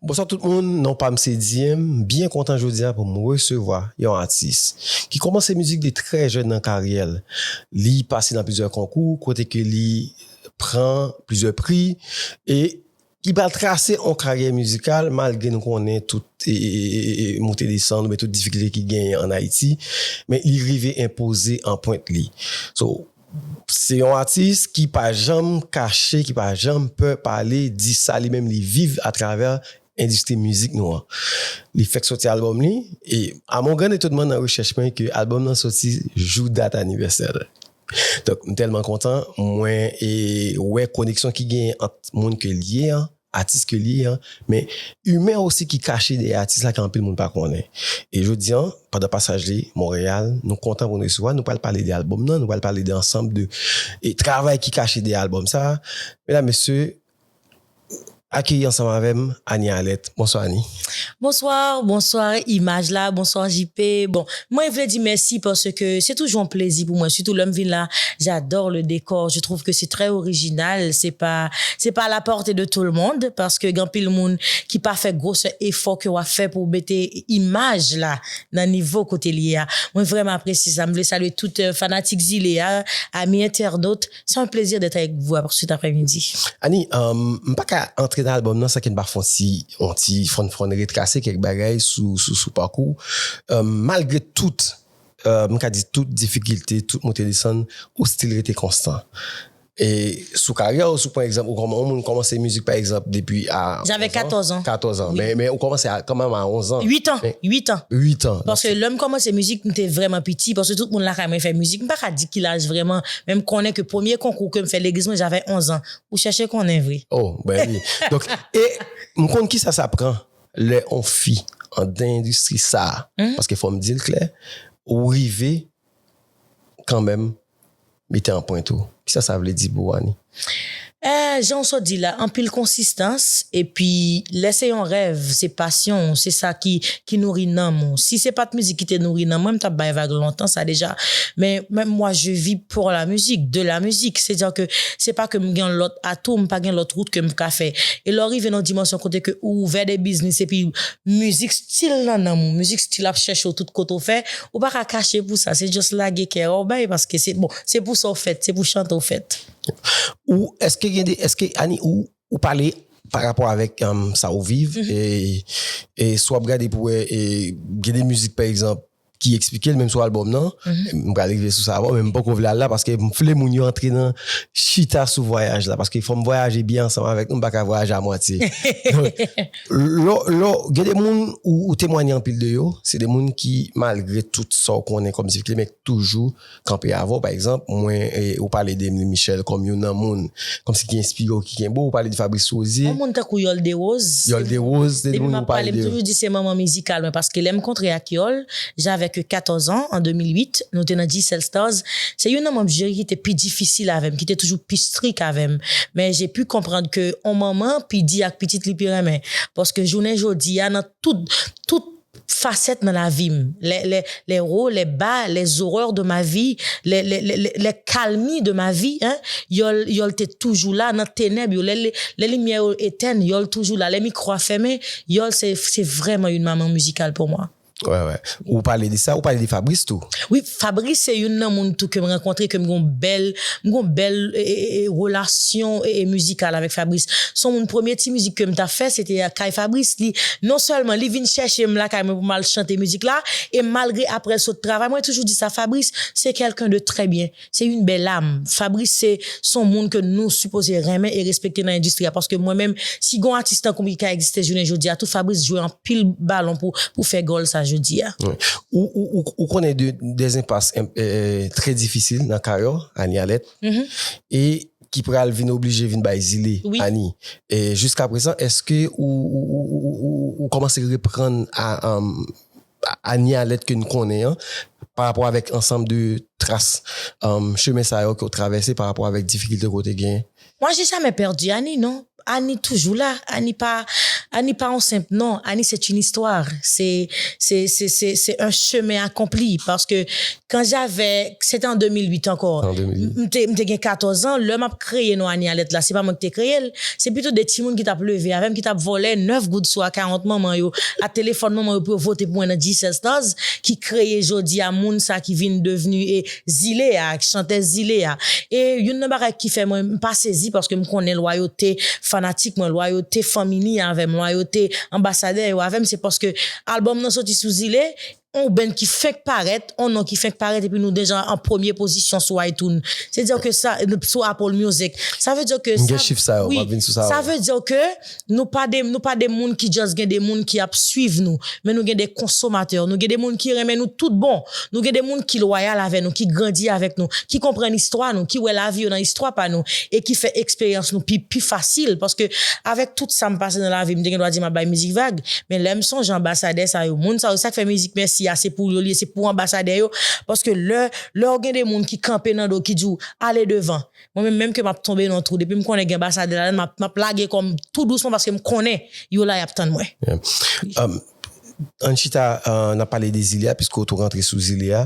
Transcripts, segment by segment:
Bonswa tout moun, non pam se Diem, m byen kontan jodia pou m resevwa yon atis ki komanse mizik li trè jèn nan karyè l, li pase nan plizyè konkou kote ke li pran plizyè pri e Ki pral trase yon karyè mizikal malgre nou konnen tout moute desann oubyen tout difikilte ki genyen an Ayiti, men li rive enpoze anpwent li. So, se yon atis ki pa janm kache, ki pa janm pè pale, di sa li menm li viv atravè endistri mizik nou an. Li fèk soti albòm li, e a mon grand etonman nan rechèch mwen ke albòm nan soti jou dat anivèsè l. Donk m tèlman kontan mwen wè koneksyon ki genyen ant moun ke l ye an, atis ke l ye an, men imen osi ki kache dèyè atis la ke anpil moun pa konnen. E jodi an, pandan pasaj li Monreyal, nou kontan pou n resevwa l, nou pral pale de albòm nan, nou pral pale de ansanm de travay ki kache dèyè albòm sa a. Medam, mesye, Akeyi ansanm avèm Anie Alerte Bonsoir Anie. Bonsoir bonsoir imaj la bonsoir JP bon mwen vle di mèsi parce que se toujou yon plezi pou mwen surtout lèm vin la j'adore le décor je trouve que c'est très original se pa se pa à la portée de tout le monde parce que gen anpil moun ki pa fè grosè efò ke wap fè pou mete imaj la nan nivo kotel ye a mwen vrèman apresye sa mwen vle salye tout fanatik zile a amis internautes Sa yon plezi dèt avèk vou a pou sit aprè midi. Ani, m pa ka antre nan albòm nan san ke n pa fè yon ti, yon ti fwonn fwonn retrase kèk bagay sou, sou, sou pakou w. Malgre tout, m ka di tout difikilte, tout moute desann, ou stil rete konstan. E sou karyè w, si w pran egzanp, ou kòman, yon moun kòmanse mizik pa egzanp depi a 11 an. Avèk 14 an. 14 an. Men, men ou kòmanse a, kanmèm a 11 an. 8 an, 8 an. 8 an. Paske lè m kòmanse mizik, m te vrèman piti, paske tout moun lakay mwen fè mizik. M pa ka di ki laj vrèman. Men m konnen ke premye konkou ke m fè legliz mwen javè 11 an. Ou chèche konnen vre. Oh ben oui. Donk e m konn kisa sa pran lè on fi andan endistri sa a. Paske fò m di l klè, ou rive kanmenm mete anpwent ou. Kisa sa vle di pou ou Annie? Eeh jan w sot di la anpil konsistans epi lè se yon rèv se pasyon w se sa ki ki nouri nanm ou si se pat mizik ki te nouri nanm mwen m tap bay vag lontan sa deja men men mwa je vi por la mizik de la mizik se dire ke se pa ke m gen yon lòt atou m pa gen lòt wout ke m ka fè e lè w rive nan yon dimansyon kote ke ou ouvè de biznis epi mizik stil nan nanm ou mizik stil ap chèche w tout kote w fè ou pa ka kache pou sa se just lage kè a w bay paske se bon Se pou sa w fèt, se pou chante w fèt. Ou, èske gen de, èske Annie ou, ou pale pa rapò avèk sa ou viv e, e si w ap gade pou wè e gen de mizik pa egzanp ki eksplike l menm sou albòm nan, m pral rive sou sa bon men m poko vle al la paske m vle moun yo antre nan chita sou vwayaj la paske fò m vwayaje byen ansanm avèk nou m pa ka vwayaje a mwatye donk lò, lò gen de moun ou temwanye anpil de yo se de moun ki malgre tout sa w konnen kòm difikilte men k toujou. kanpe avè w pa egzanp mwen e ou pale de Emile Michel kòm youn nan moun kòmsi ki enspire w ki kenbe w ou pale de Fabrice Rosier Yon moun tankou Yòl Dewoz Yòl Dewoz Depi m ap pale m toujou di se manman mizikal mwen paske lè m kontre ak Yòl j'avais que 14 ans an 2008 nou te nan Dycel Stars se youn nan manm jiri ki te pi difisil avè m ki te toujou pi strik avè m men j'ai pu konprann ke on manman pi di ak pitit li pi renmen paske jounen jodi a nan tout tout facette nan lavi m les les les hauts les bas les horreurs de ma vie les les les les les calmies de ma vie hein yòl yòl te toujou la nan tenèb yo lè lè limyè yo etèn yòl toujou la lè mikro a fèmen yòl se se vrèman une maman musicale pour moi. Wè wè ou pale de sa ou pale de Fabrice tou. Fabrice se youn nan moun tou kem rankontre kem gon bèl m gon bèl relasyon mizikal avèk Fabrice son moun premye ti mizik kem ta fè se te kay Fabrice li non sèlman li vin chèchem lakay mwen pou mal chante mizik la e malgre aprèl sot travay mwen toujou di sa Fabrice se kèlken de trè byen se youn bèl am Fabrice se son moun ke nou sipoze renmen e respekte nan endistri a paske mwen menm si gon atis tankoum ki ka egziste jounen jodia tou Fabrice jwe pil balon pou fè gòl sa jodi a. Ou konnen de enpas trè difisil nan karyè w, Anie Alette, e ki pral vin oblije vin bay zile Anie. Jiskaprezan, èske ou kòmanse reprann Anie Alette ke nou konnen an parapò avèk ansanm de tras chemen sa yo ke w travèse parapò avèk difikilte ke w te gen? Mwa je jamè pèdi Annie non Annie toujou la Annie pa Annie pa yon senp non Annie se t yn istwa se se se se se yon chemen akonpli paske kan javè se te an 2008 ankò m te m te gen 14 ans lè map kreye non Annie Alerte la se pa mwen ki te kreye l se pito 2 timoun ki tap leve avè m ki tap vòlè 9 goud sou akawont manman yo a telefòn manman yo pou yo vote pou mwen nan G-Cell Stars ki kreye jodi a moun sa ki vin devni e Zile a ak chantèz zile a. E youn nan bagay ki fè mwen m pa sezi paske m konnen lwayote fanatik mwen, lwayote fanmi ni a avè m, lwayote anbasadè yo avè m se paske albòm nan soti sou zile, on band ki fenk parèt, on non ki fenk parèt epi nou deja an premye pozisyon sou iTunes. Se dire ke sa, sou Apple Music. Sa vle dire ke sa, M gen chif sa yo, m ap vin sou sa yo. Wi, sa vle dire ke. Nou pa de nou pa de moun ki just gen de moun ki ap swiv nou men nou gen de konsomatè nou gen de moun ki renmen nou tout bon nou gen de moun ki lwayal avè nou ki grandi avèk nou ki konprann istwa nou ki wè lavi yo nan istwa pa nou e ki fè eksperyans nou pi pi fasil paske avèk tout sa m pase nan lavi m te gen dwa di m ap bay mizik vag men lè m sonje anbasadè sa yo moun sa yo sa k fè mizik mèsi a se pou yo l ye se pou anbasadè yo paske lè lè w gen de moun ki kanpe nan do w ki di w ale devan Mwen menm menm ke map tonbe nan trou depim konnen gen basadè ladann map map lage kòm tou dousman paskem konnen yo la yap tann mwen. Um, ann chita an ap pale de zile a piske ou tou rantre sou zile a.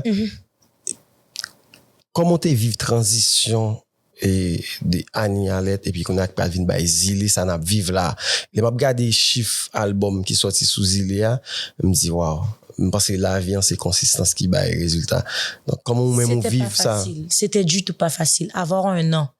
Kòman ou te viv tranzisyon e de Anie Alerte epi kounye a ki pral vin bay zile sa nap viv la. Lè map gade chif album ki sòti sou zile a, m di waw. M panse lavi an se konsistans ki bay rezilta. Donk kòman ou menm ou viv sa? Sete pa fasil. Sete ditou pa fasil. Avoir un nom.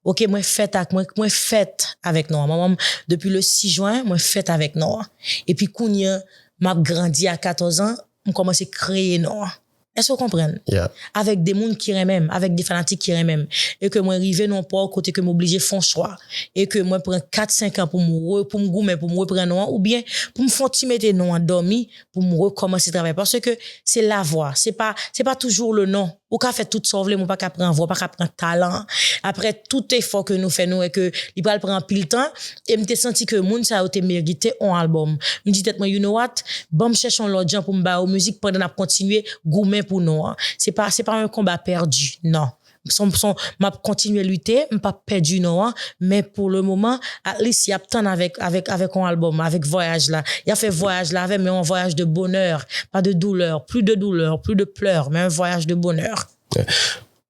Ok mwen fèt ak, mwen mwen fèt avèk non an. Manman m depi le 6 juin mwen fèt avèk non an. Epi kounye m ap grandi a 14 ans m kòmanse kreye non an. Èske w konprann? Yeah. Avèk de moun ki renmen m, avèk de fanatik ki renmen m. E ke mwen rive nan yon pò kote ke m oblije fon chwa. e ke mwen pran 4 5 an pou m re pou m goumen pou m repran non an oubyen pou m fè yon ti mete non an dòmi pou m rekòmanse travay paske se la vwa se pa se pa toujou le non ou ka fè tout sa w vle men ou pa ka pran vwa ou pa ka pran talan an aprè tout efò ke nou fè nou wè ke li pral pran anpil tan e m te santi ke moun sa yo te merite yon albòm m di tèt mwen you know what ban m chèche yon lòt jan pou m ba yo mizik pandan n ap kontinye goumen pou non an se pa se pa yon konba pèdi nan. Sompson map kontinye lite m pap pèdi non an men pou le moman at least yap tann avèk avèk avèk on album avèk vwayaj la yap fè vwayaj la avèm men on vwayaj de bonheur pas de douleur plus de douleur plus de pleurs men un voyage de bonheur.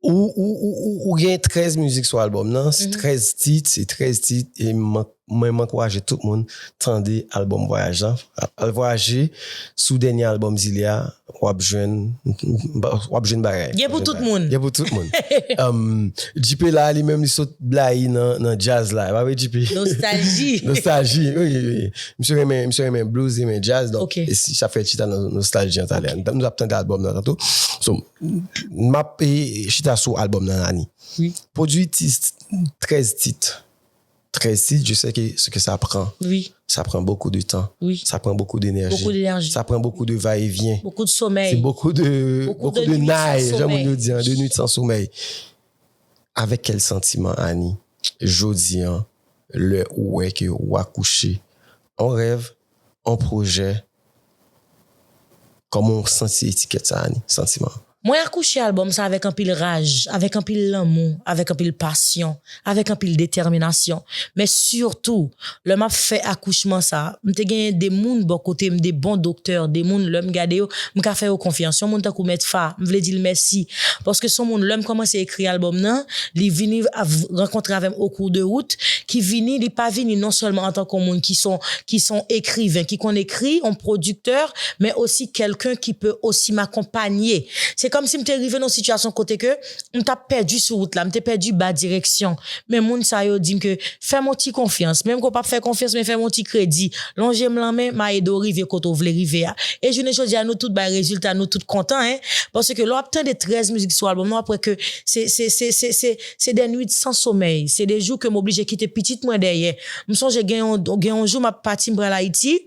Ou ou ou ou gen 13 mizik sou album nan, 13 tit, se 13 tit e m mank Mwen m ankouraje tout moun tande album vwayaj lan al vwayaje sou dènye album zile a wap jwenn wap jwenn bagay gen pou tout moun gen pou tout moun JP la li menm li sot blayi nan jazz la epa vre JP nostalji nostalji wi wi misye renmen misye renmen blues li renmen jazz donk sa fè chita nan nostalji an talè nou ap tande album nan tanto so map chita sou album nan Rani pwodwi 13 tit 13 titre je sais que ce que sa pran wi sa pran bokou de tan wi sa pran bokou de nèji bokou de nèji sa pran bokou de va e vyen bokou de somèy se bokou de bokou de nay jan moun yo di an de nwit san somèy avèk kèl santiman Ani jodi an lè ou wè ke wa kouche on rèv on pwojè Kòman w santi etikèt sa Ani, Santiman? Mwen akouche albòm sa avèk anpil raj, avèk anpil lanmou, avèk anpil pasyon, avèk anpil detèminasyon. Men sitou, lè m ap fè akouchman sa, m te genyen 2 moun bò kote m, 2 bon doktè, 2 moun lè m gade yo, m ka fè yo konfyans. Yon moun tankou Mèt Fa, m vle di l mèsi, paske s on moun lè m kòmanse ekri albòm nan, li vini rankontre avè m o kou de wout, ki vini, li pa vini non sèlman antanke yon moun ki s on ki son ekriven ki konn ekri on pwodiktè men osi kelken ki pe osi makonpanye se komsi mte rive non sitiyasyon kote ke mtap pèdi sou wout la mte pèdi ba direksyon men moun sa yo dim ke fèm on ti konfyans menm ke w pap fè konfyans men fèm on ti kredi lonjem lanmen ma ede w rive kote w vle rive a e jounen jodia nou tout bay rezilta nou tout kontan hein paske lè wap tande 13 mizik sou album nan wap wè ke se se se se Se de nwit san somèy, se de jou ke m oblije kite pitit mwen dèyè. M sonje gen yon gen yon jou m ap pati m pral Ayiti,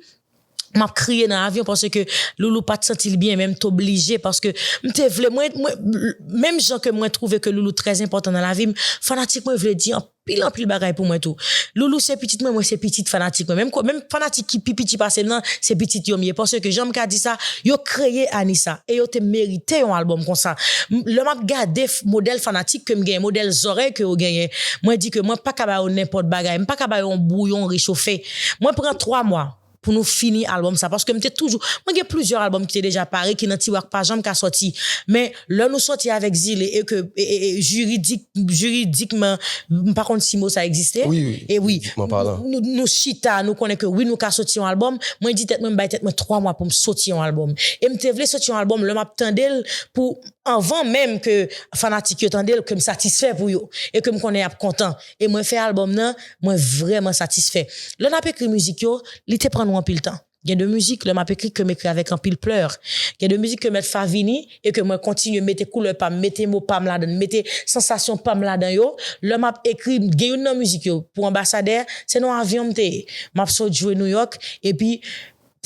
m ap kriye nan avyon paske Loulou pa t santi l byen men m t oblije paske m te vle mwen mwen menm jan ke mwen twouve ke Loulou trè enpòtan nan lavi m, fanatik mwen vle di anpil anpil bagay pou mwen tou. Loulou se pitit mwen, mwen se pitit fanatik mwen menm ko menm. Fanatik ki pi piti pase m nan se pitit yo m ye paske jan m ka di sa yo kreye ane sa e yo te merite yon album konsa m lè map gade modèl fanatik ke m genyen modèl zòrèy ke yo genyen mwen di ke mwen paka ba yo nenpòt bagay m paka ba yo yon bouyon rechofe mwen pran 3 mwa pou nou fini album sa paske m te toujou mwen gen plizyè album ki te deja pare ki nan tiwa k pa janm ka sòti men. Lè nou sòti avèk zile e ke jiridik, jiridikman, m pa konn si mo sa ekziste, wi, jiridikman palan, nou chita, nou konnen ke wi nou ka sòti yon albòm, mwen di tèt mwen m bay tèt mwen 3 mwa pou m sòti yon albòm. E m te vle sòti yon albòm lè m ap tande l pou anvan menm ke fanatik yo tande l ke m satisfè pou yo e ke m konnen y ap kontan. E mwen fè albòm nan, mwen vrèman satisfè. Lè n ap ekri mizik yo, li te pran nou anpil tan. Gen de mizik lè map ekri kem ekri avèk anpil pleur. Gen de mizik ke mèt fa vini e ke mwen kontinye mete koulè pam, mete mo pam ladann, mete sansasyon pam ladan yo. Lè map ekri, gen youn nan mizik yo pou anbasadè, se nan avyon m te ye. Map sot jwe Nouyòk epi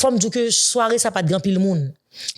fòm diw ke sware sa pat gen anpil moun.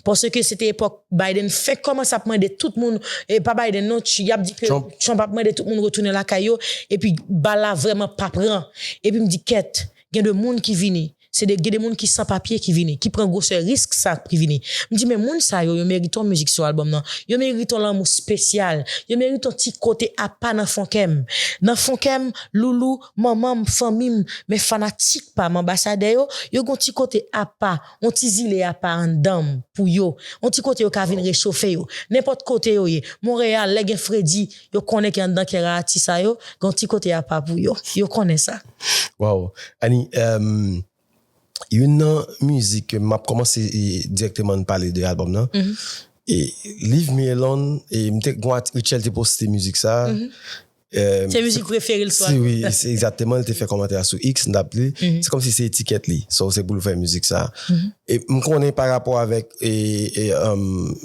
Paske se te epòk Biden fenk kòmanse ap mande tout moun, e pa Biden non, yap di ke Trump ap mande tout moun retounen lakay yo epi bal la vrèman pa pran. Epi m di kèt, gen de moun ki vini. Se de gen de moun ki san papye ki vini, ki pran gwosè risk sa ak pri vini. M di men moun sa yo, yo merite yon mizik sou albòm nan. Yo merite yon lanmou spesyal. Yo merite yon ti kote apa nan fon kè m. Nan fon kè m, Loulou, manman m, fanmi m, men fanatik pa m, anbasadè yo, yo gen yon ti kote apa, yon ti zile apa anndan m, pou yo. Yon ti kote yo ka vin rechofe yo. Nenpòt kote yo ye. Monreyal, lè gen fredi, yo konnen ke anndan kè Raati sa yo, gen yon ti kote apa pou yo. Yo konnen sa. Waw Annie emm youn nan mizik ke map kòmanse dirèkteman nou pale de album nan e Leave me alone e m te gon atik Rutshelle te poste mizik sa emm Se mizik prefere l swa wi egzakteman li te fè kòmantè a sou X m tap li se kòmsi se etikèt li so se pou l fè mizik sa e m konnen pa rapò avèk e emm.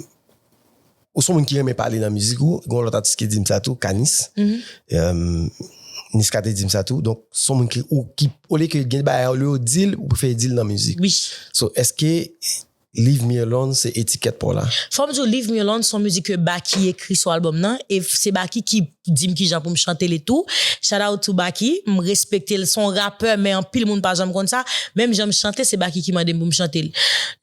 Ou son moun ki renmen pale nan mizik ou, gen yon lòt atis ki di m sa tou, Kanis. Niska te di m sa tou. Donk, son moun ki, olye ke gen bagay, olye ou di l, ou prefere di l nan mizik. Wi. So, eske Leave Me Alone se etikèt pa w la? Fò m di w Leave Me Alone se yon mizik ke Baky ekri sou albòm nan e se Baky ki Dim kijan poum chante li tou. Shout out to Baky, m respektel son rapè men anpil moun pa janm konn sa, menm janm chante se Baky ki mandem poum chantel.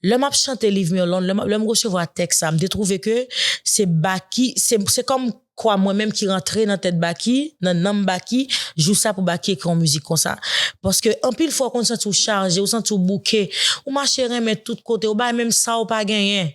Lè map chante Leave me alone, lèm resevwa tèks sa, m te trouve ke se Baky, se kòm kwa mwen menm ki rantre nan tèt Baky, nan nanm Baky, jou sa pou Baky ekri yon mizik konsa. Paske anpil fwa ou konn santiw chaje, ou santiw bouke, ou mache renmen tout kote, ou bay menm sa ou pa genyen.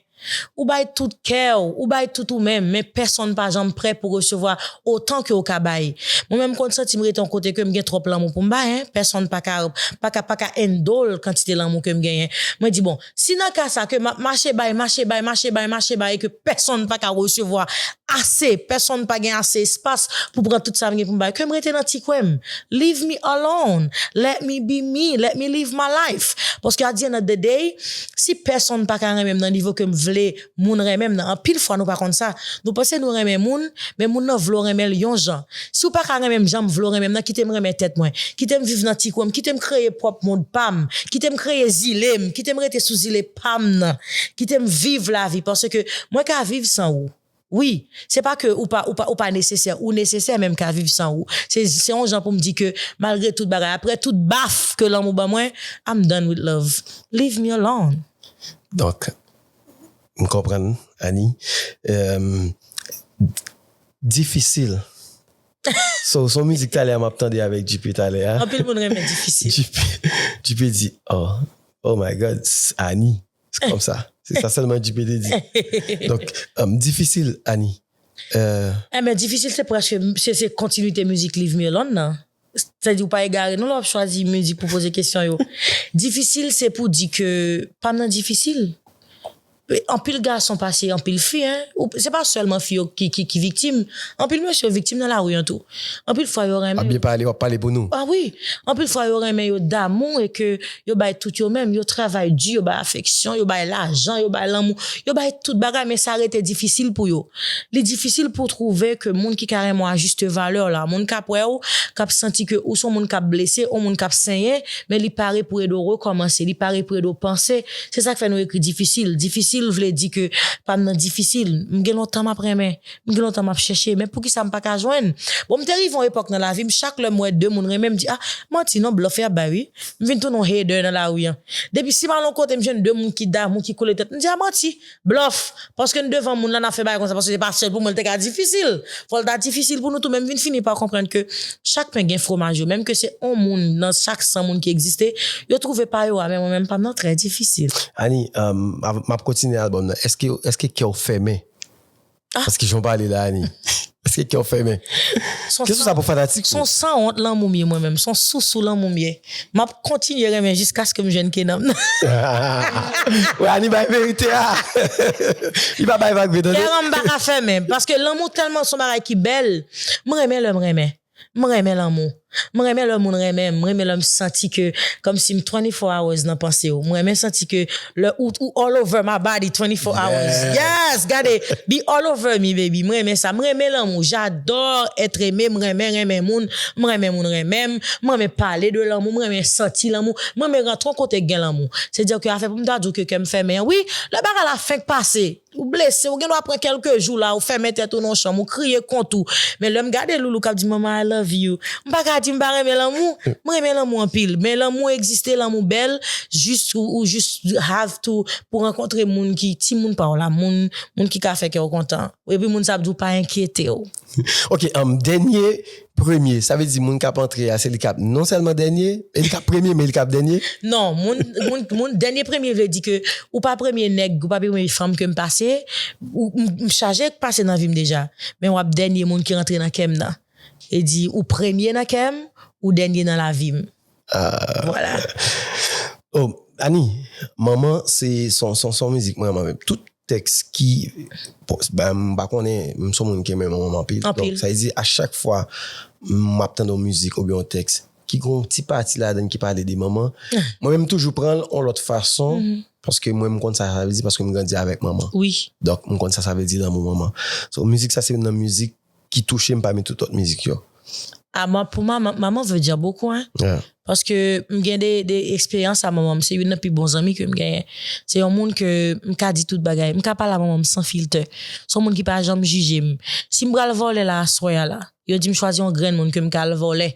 Ou bay tout kè w, ou bay tout ou menm, men pèsonn pa janm prè pou resevwa otan ke w ka bay. Mwen menm m konn santi m rete yon kote ke m gen twòp lanmou pou m bay hein, pèsonn pa ka, pa ka, pa ka endol kantite lanmou ke m genyen. Mwen di bon, si nan ka sa ke m ap mache bay, mache bay, mache bay, mache bay e ke pèsonn pa ka resevwa ase, pèsonn pa gen ase espas pou pran tout sa m gen pou m bay, ke m rete nan ti kwen m. Leave me alone, let me be me, let me live my life. Paske at the end of the day, Si pèsonn pa ka renmen m nan nivo ke m vle moun renmen m nan, anpil fwa nou pa konn sa, nou panse nou renmen moun, men moun nan vle w renmen l yon jan. Si w pa ka renmen m jan m vle w renmen m nan, kite m renmen tèt mwen. Kite m viv nan ti kwen m, kite m kreye pwòp mond pa m, kite m kreye zile m, kite m rete sou zile pa m nan, kite m viv lavi, paske mwen ka viv san ou. Wi, se pa ke ou pa, ou pa, ou pa nesesè, ou nesesè men m ka viv san ou. Se, se yon jan pou m di ke malgre tout bagay, aprè tout baf ke lanmou ban mwen, I'm done with love. Leave me alone. Donk, m konprann Annie. Difisil. Se yon mizik talè a m ap tande avèk JP talè a. Anpil moun renmen difisil. JP di, oh, oh my God, Annie. Se kom sa. Se sa selman JP te di. Donk, difisil Ani. Enben difisil se preske, se kontinite mizik Leave me alone nan. Sa vle di ou pa egare non lè wap chwazi mizik pou poze kesyon yo. Difisil se pou di ke pam nan difisil. Anpil gason pase anpil fi, se pa selman fi yo ki viktim. Anpil mesye viktim nan lari an tou. Anpil fwa yo renmen. Wap byen pale, wap pale pou nou. Ah wi, anpil fwa yo renmen yo damou e ke yo bay tout yo menm, yo travay di, yo bay afeksyon, yo bay lajan, yo bay lanmou, yo bay tout bagay men sa rete difisil pou yo. Li difisil pou w twouve ke moun ki ka renmen w a juste valeur la, moun kap wè w, kap santi ke ou son moun kap blese, ou moun kap senyen, men li pare pou ede w rekòmanse, li pare pou ede w panse, se sak fè nou ekri difisil, difisil vle di ke pam nan difisil, m gen lontan map renmen, M gen lontan map chèche men poukisa m paka jwenn bon m te rive yon epòk nan lavim chak lèm wè 2 moun renmenm m di ah manti non blòf yap bay wi m vin tounen yon hater nan lari an depi sim al yon kote m jwenn 2 moun ki damou ki kole tèt m di ah manti blòf paske n devan moun la nap fè bagay konsa paske se pa sèl pou mwen l te ka difisil fòl ta difisil pou nou tou men m vin fini pa konprann ke chak pen gen fwomaj yo menm ke se yon moun nan chak 100 moun ki egziste yo twouve pa yo a men mwen menm pam nan trè difisil. Annie, map kontinye album nan, eske kèw fèmen As ki jan w pale la Annie. Eske kè w fèmen? Kesyon sa pou fanatik ou. Son san wont lanmou m ye mwen menm. Son sousou lanmou m ye. M ap kontinye renmen jiskaske m jwenn Kenan m nan. Wè Annie bay verite a. Li pa bay vag vre tande. Kè an m pa ka fèmen. Paske lanmou tèlman son bagay ki bèl. M renmen lè m renmen. M renmen lanmou. M renmen lè moun renmen m. M renmen lè m santi ke kòmsi m 24 hours nan panse w. M renmen santi ke lè ou ou all over my body 24 hours. Yes! Gade! Be all over me baby. M renmen sa. M renmen lanmou. J'adore être aimé. M renmen renmen moun. M renmen moun renmen m. M renmen pale de lanmou. M renmen santi lanmou. M renmen rantre yon kote ki gen lanmou. Se dire ke afè pou m ta di w ke kè m fèmen an, wi, lè bagay la fenk pase, Ou blese, ou gen dwa pran kelke jou la, ou fèmen tèt ou nan yon chanm, ou kriye kont ou. Men lè m gade Loulou k ap di Mama I love you, m pa ka di m pa renmen lanmou. M renmen lanmou anpil. Men lanmou egziste, lanmou bèl, jis ou jis have to pou rankontre moun ki, timoun pa w la, moun, moun ki ka fè kè w kontan. Epi moun sa ap di w pa enkyete w. Ok, dènye Premye, sa vle di moun kap antre a se li kap non sèlman dènye, e li kap premye men li kap dènye? Non, moun, moun, moun, dènye premye vle di ke ou pa premye nèg, ou pa premye fanm kem pase, ou, m, m chaje k pase nan vim deja, men wap dènye moun ki rantre nan kèm nan. Vle di ou premye nan kèm, ou dènye nan lavim. Aah. Vwala. Oh, Annie, manman se son, son, son mizik m renman menm. Tout, Tèks ki pos ba m pa konnen m son moun ki renmen manman m anpil donk sa vle di a chak fwa m ap tande yon mizik oubyen yon tèks ki gen yon ti pati ladan l ki pale de manman mwen menm m toujou pran l yon lòt fason paske mwen m konn sa sa vle di paske m grandi avèk manman donk m konn sa sa vle di lanmou manman so mizik sa se youn nan mizik ki touche m pami tout lòt mizik yo. Ah ma pou ma ma maman veut dire beaucoup hein Yeah. paske m gen de de eksperyans a manman m se youn nan pi bon zanmi ke m genyen se yon moun ke m ka di tout bagay m ka pale a manman m san filtè son moun ki pa janm jije m si m pral vole la aswè a la yo di m chwazi yon grenn moun ke m ka al vole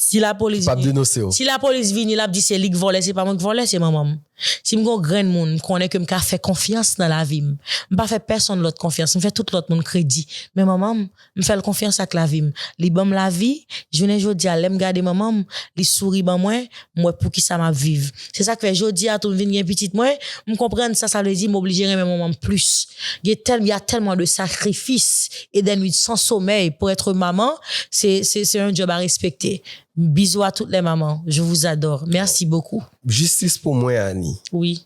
Si la police Pap vini, denonse w. si la police vini lap di se li k vòlè se pa mwen k vòlè se manman m. Si m gon grenn moun m konnen ke m ka fè konfyans nan lavi m. M pa fè pèsonn lòt konfyans, m fè tout lòt moun kredi. Men manman m, m fè l konfyans ak lavi m. Li ban m lavi, jounen jodi a lè m gade manman m, li souri ban mwen, m wè poukisa map viv. Se sa k fè jodi a tou m vin gen pitit mwen, m konprann sa sa vle di m oblije renmen manman m plis. Gen tèl, y a tellement de sacrifices et des nuits sans sommeil pour être maman, se se se un job à respecter. Bisous à toutes les mamans, je vous adore. Merci beaucoup. Jistis pou mwen Annie. Wi.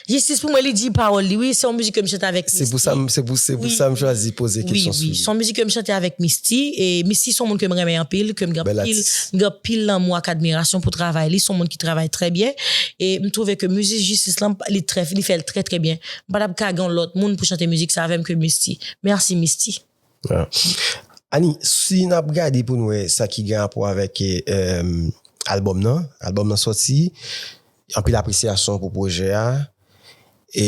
Jistis pou mwen li di pawòl li wi se yon mizik ke m chante avèk Misty. Se pou sa m se pou se pou sa m chwazi poze kesyon sou li. Wi wi se yon mizik ke m chante avèk Misty e Misty se yon moun ke m renmen anpil ke m gen anpil m gen anpil lanmou ak admirasyon pou travay li se yon moun ki travay trè byen e m twouve ke mizik jistis lan li trè li fè l trè trè byen m pa t ap ka gen yon lòt moun pou chante mizik sa avè m ke Misty. Mèsi Misty. Annie si nap gade poun wè sa ki gen rapò avèk album nan, album nan sòti anpil apresyasyon pou pwojè a e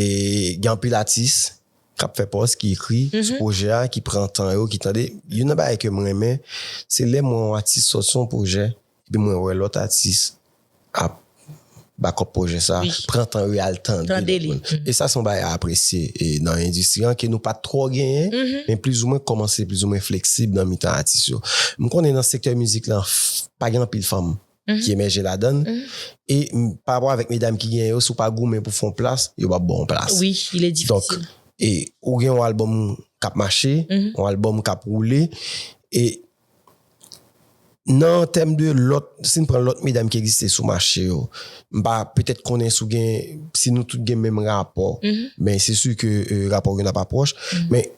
gen anpil atis kap fè pòs ki ekri sou pwojè a ki pran tan yo ki tande youn nan bagay kem renmen se lè m wè yon atis sòti yon pwojè Epi mwen wè lòt atis ap bakòp pwojè sa, pran tan yo al tande lòt moun. E sa se yon bagay a apresye nan endistri an ke nou pat twò genyen, men plizoumwen kòmanse plizoumwen fleksib nan mitan atis yo. M konnen nan sektè mizik lan pa gen anpil fanm ki emèje ladan l, e parapò avèk medam ki genyen yo, si w pa goumen pou w fè yon plas, yo pap ba w yon plas. Donk, ou gen yon albòm k ap mache, yon albòm k ap woule, e. Nan tèm de lòt, si n pran lòt medam ki egziste sou mache yo, m pa petèt konnen si w gen, si nou tout gen menm rapò, men se si ke rapò youn ap apwòch, men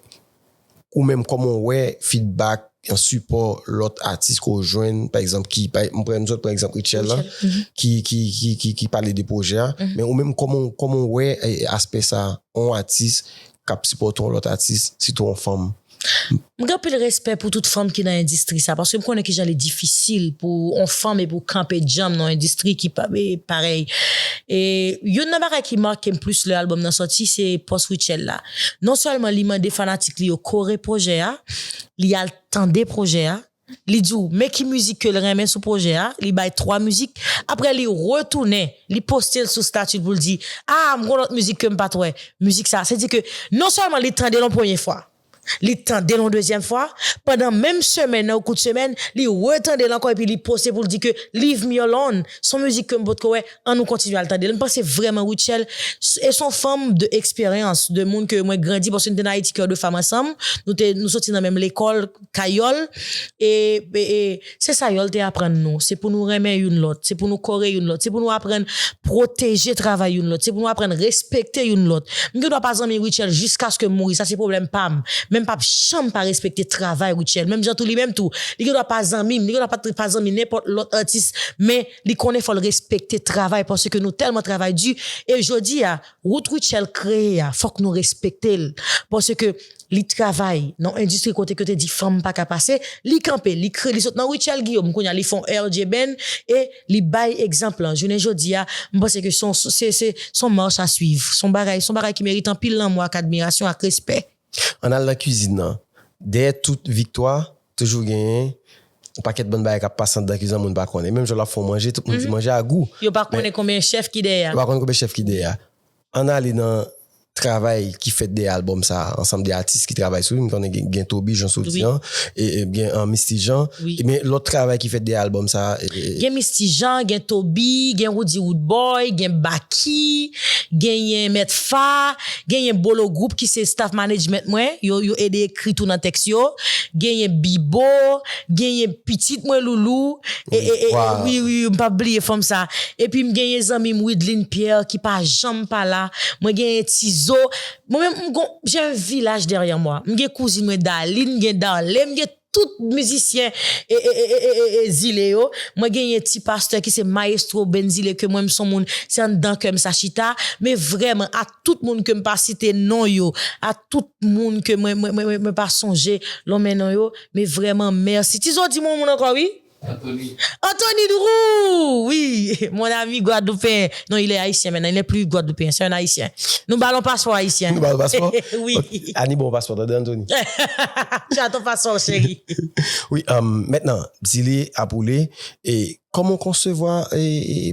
ou menm kòman w wè fidbak, sipò lòt atis ke w jwenn, pa egzanp ki, m pran, nou sot pran egzanp Rutshelle la, ki, ki, ki, ki pale de pwojè a, men ou menm kòman, kòman w wè aspè sa, yon atis kap sipòte yon lòt atis sitou yon fanm. M gen anpil respè pou tout fanm ki nan endistri sa paske m konnen kijan li difisil pou yon fanm epi ou kanpe djanm nan yon endistri ki parèy e youn nan bagay ki make m plis lè albòm nan sòti se pòs Rutshelle la non sèlman li mande fanatik li yo kore pwojè a li al tande pwojè a li di w men ki mizik ke l renmen sou pwojè a, li bay 3 mizik, aprè li retounen li poste l sou stati l pou l di a m gen yon lòt mizik ke m pat wè mizik sa, se di ke non sèlman li tande l yon premye fwa, li tande l yon dezyèm fwa, pandan menm semèn nan ou kout semèn li retande l ankò epi li poste pou l di ke leave me alone s on mizik ke m potko wè an nou kontinye al tande l m panse vrèman Rutshelle e s on fanm de eksperyans de moun ke mwen grandi paske nou te nan Ayiti kè de fanm ansanm nou te nou soti nan menm lekòl Kayòl, e, e, e, se sa Yòl te aprann nou, se pou nou renmen youn lòt, se pou nou kore youn lòt, se pou nou aprann pwoteje travay youn lòt, se pou nou aprann respekte youn lòt. M gen dwa pa zanmi Rutshelle jiskaske m mouri, sa se pwoblèm pa m, men m pap janm pa respekte travay Rutshelle. Menm jan tou li menm tou, li gen dwa pa zanmi m, li gen dwa pat pa zanmi nenpòt lòt atis, men li konnen fò l respekte travay paske nou tèlman travay di e jodi a, Wout Rutshelle kreye a fòk nou respekte l paske li travay nan yon endistri kote ke yo te di fanm pa ka pase, li kanpe li kre li sot nan Rutshelle Guillaume kounye a li fon RJBen e li bay egzanp lan jounen jodi a m panse ke son se son marche à suivre son bagay son bagay ki merite anpil lanmou ak admirasyon ak respè. Ann al nan kizin nan. Dèyè tout viktwa, toujou genyen yon pakèt bann bagay k ap pase anndan kizin an moun pa konnen. Menm jan w ap fè yon manje, tout moun di manje a gou. Yo pa konnen konbyen chèf ki dèyè a. Yo pa konnen konbyen chèf ki dèyè a. Ann ale nan travay ki fèt dèyè albòm sa a, ansanm de atis ki travay sou li. M konnen gen Toby Jean soti an, gen Misty Jean. Men lòt travay ki fèt dèyè albòm sa a. Gen Misty Jean, gen Toby, gen Roody Roodboy, gen Baky, genyen Mèt Fa. Genyen Bolo Group ki se staff management mwen, yo yo ede ekri tou nan tèks yo. Genyen Bibo, genyen pitit mwen Loulou, e e e wi wi m pap bliye fanm sa. Epi m genyen zanmi m Wideline Pierre ki pa janm pa la. Mwen genyen Tizo. Mwen menm m gon, j'ai un village derrière moi. M gen kouzin mwen Daline, m gen Darley, m gen. Tout mizisyen e zile yo mwen genyen ti pastè ki se maestro band zile ke mwen m son moun se anndan kèm sa chita me vrèman a tout moun kem pa site non yo a tout moun ke mwen mwen mwen pa sonje lonmen non yo me vrèman mèsi ti zo di m yon moun ankò wi. Anthony. Anthony Drew wi mon ami gwadloupen non il est haïtien maintenant il n'est plus gwadloupen c'est un haïtien nou ba l on paspò ayisyen Nou ba l paspò wi Annie ba w paspò tande Anthony Tchat on paspò cheri wi maintenant di li apoule e kòman w konsevwa e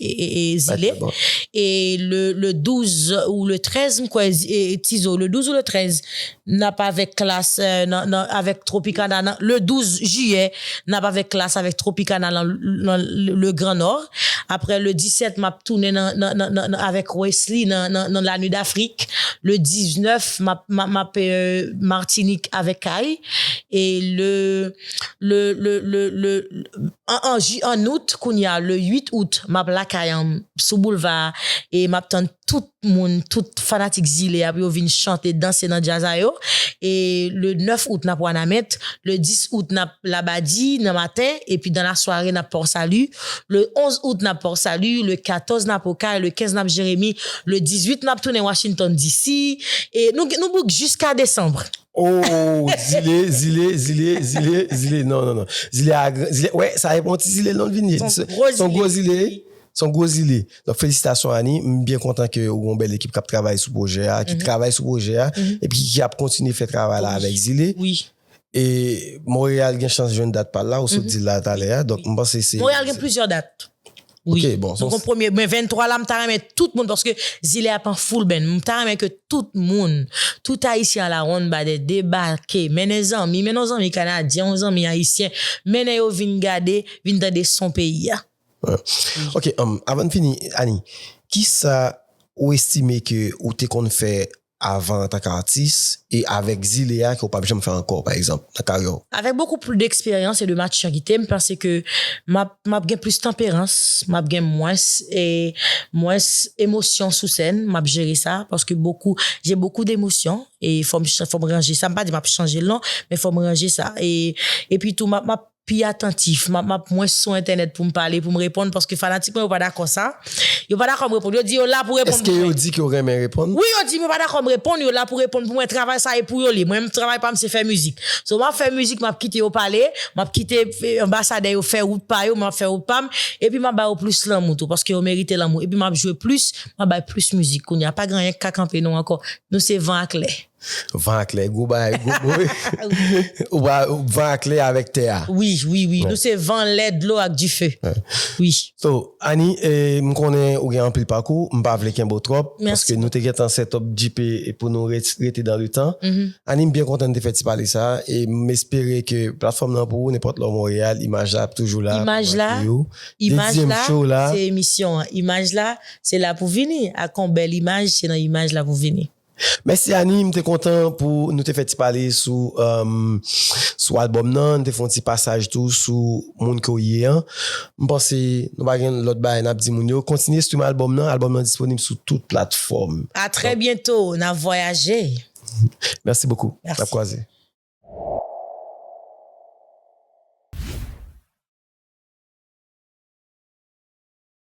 zile e le 12 ou le 13 m kwè tizo le 12 ou le 13 n ap avèk klas nan avèk tropikana nan le 12 jiyè n ap avèk klas avèk tropikana nan le gran nò aprè le 17 m ap tounen nan avèk wesly nan la nuit d'afrik le 19 m ap martinik avèk kay e le le le le le An an ji an out kounya le 8 out map lakayanm sou boulva a e map tann tout moun tout fanatik zile a pou yo vin chante danse nan djaz a yo e le 9 out nap wanament le 10 out nap labadi nan maten epi dan la sware nap port salut le 11 out nap port salut le 14 nap okay le 15 nap jeremi le 18 nap tounen washington DC e nou nou bouk jiska desanbre. Oh, zile, zile, zile, zile, zile, non, non, non. Zile a, zile, wè, sa e bon ti zile non vini. Son gwo zile. Son gwo zile. Son gwo zile. Don felisitasyon Annie, m byen kontan ke ou gon bèl ekip kap travay sou pwojè a, ki travay sou pwojè a, e pi ki ap kontinye fè travay la avèk zile. Wi. E Montréal gen chans jwenn dat pal la, ou sot di la talè a, donk m panse se. Montréal gen plizyè dat. Wi, nou kon premye, men 23 la m ta renmen tout moun, paske zile a pran foul band, m ta renmen ke tout moun, tout ayisyen a la ronn badè debake, mennen zanmi, mennen yon zanmi kanadyen, yon zanmi ayisyen, mennen yo vin gade, vin tande son peyi a. Ok, avan n fini, Annie, kisa ou estime ke ou te konn fè avan antan k atis e avèk zile a ke w pap janm fè ankò pa egzanp nan karyè w? Avèk bokou pli deksperyans e de matiritè m panse ke map map gen plis tanperans, map gen mwens e mwens emosyon sou sèn, map jere sa paske bokou je bokou demosyon e fòm fòm ranje sa m pa di map chanje l non men fòm ranje sa e epi tou map map pi atantif, map map mwens sou entènèt poum pale, poum reponn paske fanatik mwen yo pa dakò sa, yo pa dakòm reponn, yo di yo la pou reponn pou mwen. Eske yo di ke yo renmen reponn? Wi yo dim yo pa dakòm reponn, yo la pou reponn pou mwen, travay sa e pou yo li, mwen menm travay pam se fè mizik. So map fè mizik map kite yo pale, map kite anbasadè yo fè wout pa yo, mwen ap fè wout pam, epi map ba yo plis lanmou tou paske yo merite lanmou, epi map jwe plis, map bay plis mizik, kounya pa gen anyen ki ka kanpe nou ankò, nou se van ak lè. Van ak lè gwo bagay gwo boy. Ou pa van ak lè avèk tè a. Wi wi wi nou se van lè dlo ak dife wi. So Annie m konnen ou gen anpil pakou m pa vle kenbe w twòp paske nou te gentan setup djipe pou nou rete dan le tan Annie m byen kontan n te fè ti pale sa e m espere ke platfòm nan pou ou nenpòt lè w Montréal imaj la ap toujou la pou akyeyi w dezyèm show la. Imaj la se emisyon an imaj la se la pou vini ak yon bèl imaj se nan imaj la pou vini. Mèsi Annie, m te kontan pou nou te fè ti pale sou sou album nan, n te fon ti pasaj tou sou moun ke w ye an. M panse nou pa gen lòt bagay nap di moun yo. Kontinye stream album nan, album nan disponib sou tout platfòm. A trè byento, nap vwayaje. Mèsi bokou, nap kwaze.